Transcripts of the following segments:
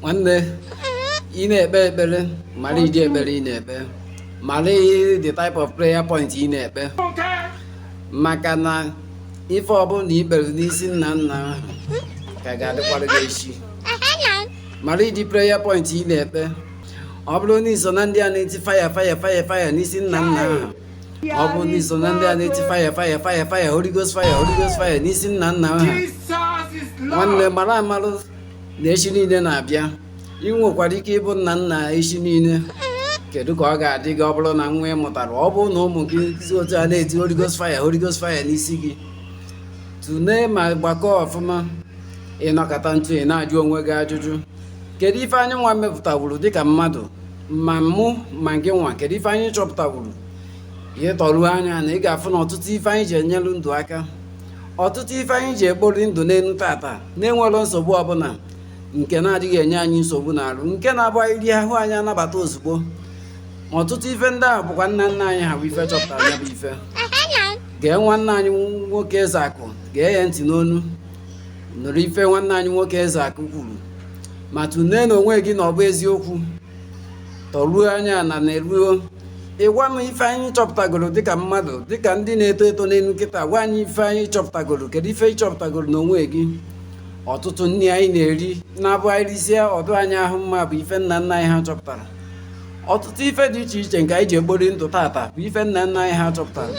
nwanne ị na-ekpe ekpere mara ụdị ekpere ị na-ekpe mara the type of prayer point ị na-ekpe maka na ife ọbụla na ị kpere n'isi nna nna ahụ ka ga-adịkwara gị echi mara ụdị prayer point ị na-ekpe ọ bụrụ na i so na ndị a na-eti fire fire fire fire n'isi nna nna ahụ ọ bụrụ na i so na ndị a na-eti fire fire fire fire Holy Ghost fire Holy Ghost fire n'isi nna nna ha nwanne mara amarụ na echi niile na-abịa ị nwekwara ike ịbụ nna nna echi niile kedu ka ọ ga-adị gị ọ bụrụ na nwa ị mụtara ọ bụrụ na ụmụ gị si otu a na-eti Holy Ghost fire Holy Ghost fire n'isi gị tụlee ma gbakọọ ọfụma ị nọkata ntụ ị na-ajụ onwe gị ajụjụ kedu ife anyị nwa mepụtawuru dịka mmadụ ma mụ ma gị nwa kedu ife anyị chọpụtawuru ị tọruo anya na ị ga-afụ na ọtụtụ ife anyị ji enyelu ndụ aka ọtụtụ ife anyị ji ekpori ndụ n'elu tata na-enwero nsogbu ọbụla nke na-adịghị enye anyị nsogbu n'arụ nke na-abụ anyị rie ahụ anyị anabata ozugbo ma ọtụtụ ife ndị ahụ bụkwa nna nna anyị ha bụ ife chọpụtara ya bụ ife gee nwanne anyị nwoke eze akụ gee ya ntị n'ọnụ nụrụ ife nwanne anyị nwoke eze akụ kwuru ma tụlee na onwe gị na ọ bụ eziokwu tọruo anya na neruo ị gwa m ife anyị chọpụtagoro dịka mmadụ dịka ndị na-eto eto n'elu kịta gwa anyị ife anyị chọpụtagoro kedu ife ị chọpụtagoro n'onwe gị ọtụtụ nri anyị na-eri na-abụ anyị risịa ọ dị anyị ahụ mma bụ ife nna nna anyị ha chọpụtara ọtụtụ ife dị iche iche nke anyị ji ekpori ndụ tata bụ ife nna nna anyị ha chọpụtara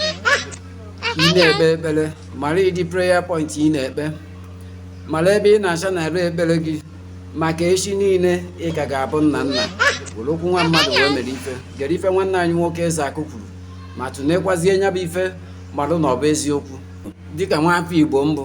ị na-ekpe ekpere mara ụdị prayer point ị na-ekpe mara ebe ị na-channel ekpere gị maka echi niile ị ka ga-abụ nna nna were okwu nwa mmadụ wee mara ife gere ife nwanne anyị nwoke eze akụ kwuru ma tụnekwazie nya bụ ife marụ na ọ bụ eziokwu dịka nwa afọ igbo m bụ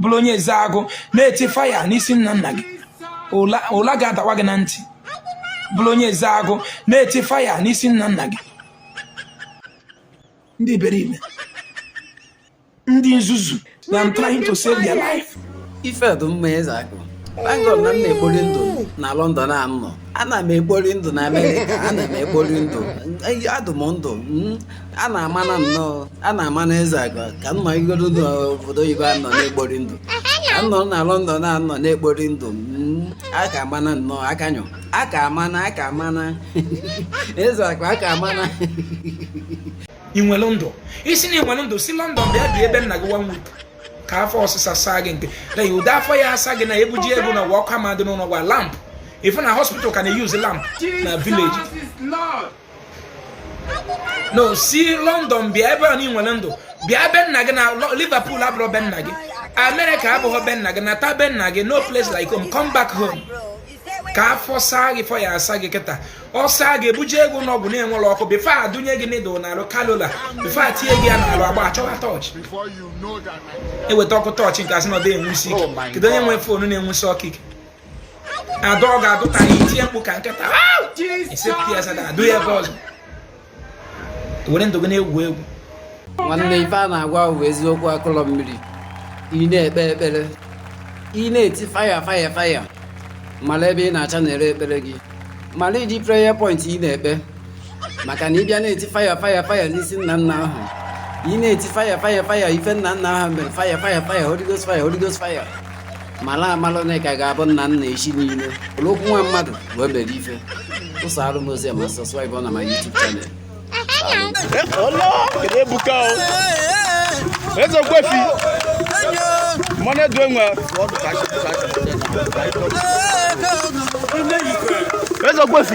bụrụ onye eze agụ na-eti fire n'isi nna nna gị ụla ga-adawa gị na ntị bụrụ onye eze agụ na-eti fire n'isi nna nna gị ndị iberibe ndị nzuzu na I'm trying to save their life ife dị mma eze agụ Bangor na m na-ekpori ndụ na London a m nọ ana m ekpori ndụ na Amerịka ana m ekpori ndụ adụ m ndụ hmm? a na-ama na nnọọ a na-ama na eze agụ ka m nọ igodo n'obodo oyibo anọ na-ekpori ndụ ka nọ na London na anọ na-ekpori ndụ mm, a ka ama na nnọọ akanyụ a ka ama na a ka ama na eze agụ a ka ama na ị nwere ndụ ị sị na ị nwere ndụ si London bịa bịa ebe nna gị one week ka afọ ọsịsa saa gị nke na ya ụdị afọ ya asa gị na ebuji ego na ụwa ọkụ ama dị n'ụlọ gwa lamp ife na hospital ka na-use lamp na village no si london bịa ebe a na i nwere ndụ bịa be nna gị na liverpool abụrọ be nna gị america abụghọ be nna gị nata be nna gị no place like home come back home ka afọ saa gị afọ ya asa gị kịta ọ saa gị ebuje gị ụnọ ọgwụ na-enwerọ ọkụ bifo adụnye gị needle n'alụ cannula bifo atinye gị ya n'alụ agba achọwa tọọchị eweta ọkụ tọọchị nke asị na ọ dị enwusi ike kedu onye nwere foonu na-enwusi ọkụ ike adọ ọ ga-adụta ya i tie mkpu ka nkịta esepụta ya sada adụ ya ebe ọzọ were ndụ gị na-egwu egwu nwanne ife a na-agwa bụ eziokwu akụlọ mmiri ị na-ekpe ekpere ị na-eti faya faya faya mala ebe ị na-achannel ekpere gị mala ụdị prayer point ị na-ekpe maka na ị bịa na-eti faya faya faya n'isi nna nna ahụ ị na-eti faya faya faya ife nna nna ahụ mere faya faya faya Holy Ghost faya Holy Ghost faya mala amala na ị ka ga-abụ nna nna echi niile ụlọ okwu nwa mmadụ wee mere ife ụsọ arụ m ozi ma sọskraịbụ na my YouTube channel Hello, kedu ebuka o? Eze Ogbuefi, mmanụ edu enwe. Eze Ogbuefi,